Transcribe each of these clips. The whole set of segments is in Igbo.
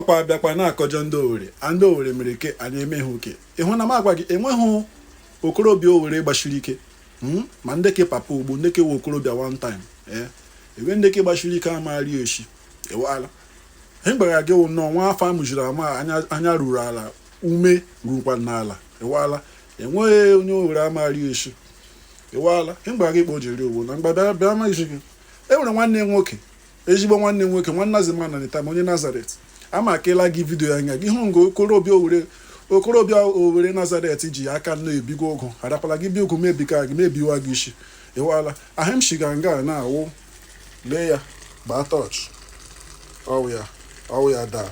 ọkwa abịakwa na-akọjọ ndị owere a ndị owere mere ike a na-eme ha oke ịhụ na m agwa gị enweghị okorobịa owere gbachiri ike hmm? ma ndị ke papa ugbo ndị ke we okorobịa one time ee eh? ebe ndị ke gbachiri ike amaghari eshi ịwala ihe gbara gị wụ nnọọ nwa afọ amụjiri ama anya ruru ala ume rukwa n'ala ịwala enweghị onye owere amaghị eshi ịwala ihe gbara gị kpọ jiri owo na mgbada bịa amaghịzi gị e nwere nwanne nwoke ezigbo nwanne nwoke nwanna zima na nita onye nazaret amakela gị vidio ya nya gị hụ nga okorobịa owere okorobịa owere nazaret ji aka nọ ebiga ụgụ adakwala gị bi ụgụ mebika gị mebiwa gị isi ịwala ihe m shiga nga na-awụ lee ya gbaa tọch ọwụ ya ọwụ ya daa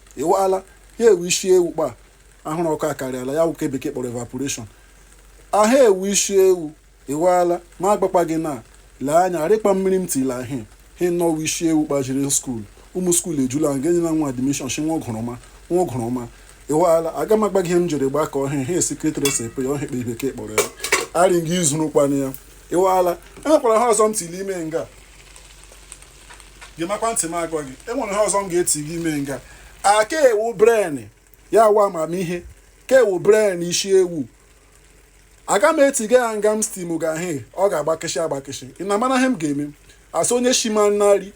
ịwaala ya ewu isi ewu kpa ahụrụ ọkụ akarịala ya wụ ke bekee kpọrọ evaporation ahụ ewu isi ewu ịwaala ma agbakpa gị na lee anya arịkpa mmiri m tila ahị he nnọọ isi ewu kpa jere skuul ụmụ skuul ejula nga enyela nwa admishọn shi nwa gụrụma nwa gụrụma ịwaala aga m agwa gị ihe m jiri gbakọ ihe a secret recipe ya ọ ihe kpe bekee kpọrọ ya arị gị izurukwana ya ịwaala enwekwara ihe ọzọ m tili ime nga gemakwa ntị m agwa gị enwere ihe ọzọ m ga-eti gị ime nga aka ewu bren ya wa amamihe ka ewu bren isi ewu aga m etiga ya nga m stimga ihe ọ ga-agbakịshị agbakịshị ị na-amana ihe m ga-eme asị onye shima nari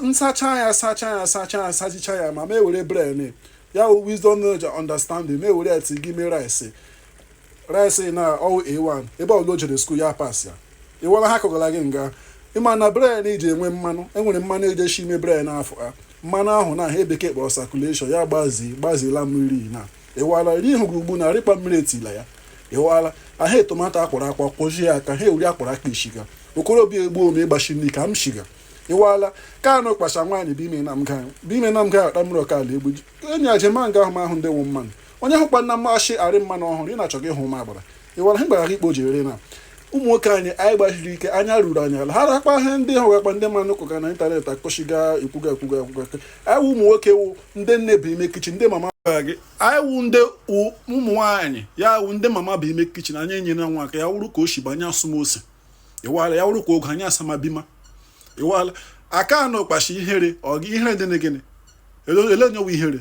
nsacha ya sacha ya sacha ya sachicha ya ma m ewere bren ya wisdom knowledge understanding m ewere ya ti gị ime rice rice na ọwụ a1 ebe ọbụla o jere skuul ya pas ya ịwala ihe kọgara gị nga ịma na bren ji enwe mmanụ enwere mmanụ eji eshi ime bren afọ ha mmanụ ahụ na ihe bekee kpọrọ sakuleshọn ya gbazi gbazila mmiri na ịwara ri ihu gị ugbu na rịkpa mmiri etila ya ịwala aha tomato akwọrọ akwọ kwọzie ya ka ha ewuri akwara aka ishiga okorobịa egbu ome ịgbachi nri ka m shiga ịwala ka anụ kpacha nwaanyị bụ ime na mga bụ ime na mga akpa mmiri ọkala egbu enyi ajemanga ahụ m ahụ ndị wụ mmanụ onye hụkwana shị arị mmanụ ọhụrụ ị na-achọ gị hụ ma agbara ịwala ihe gbara ikpo jiri na ụmụ nwoke anyị anyị gbachiri ike anya ruru anyị ala ha rakpa ihe ndị ha wakpa ndị mmanụ kwuga na ịntanetị akụchiga ekwuga ekwuga ekwuga anyị wụ ụmụ nwoke wụ ndị nne bụ ime kichin ndị mama gị anyị wụ ndị ụmụ nwaanyị ya wụ ndị mama bụ ime kichin anyị enyere nwa aka ya wụrụ ka o si banye asụma ose ịwala ya wụrụ ka oge anyị asamabima ịwala aka anọkpa shị ihere ọ gị ihere dị na gịnị ele onye wụ ihere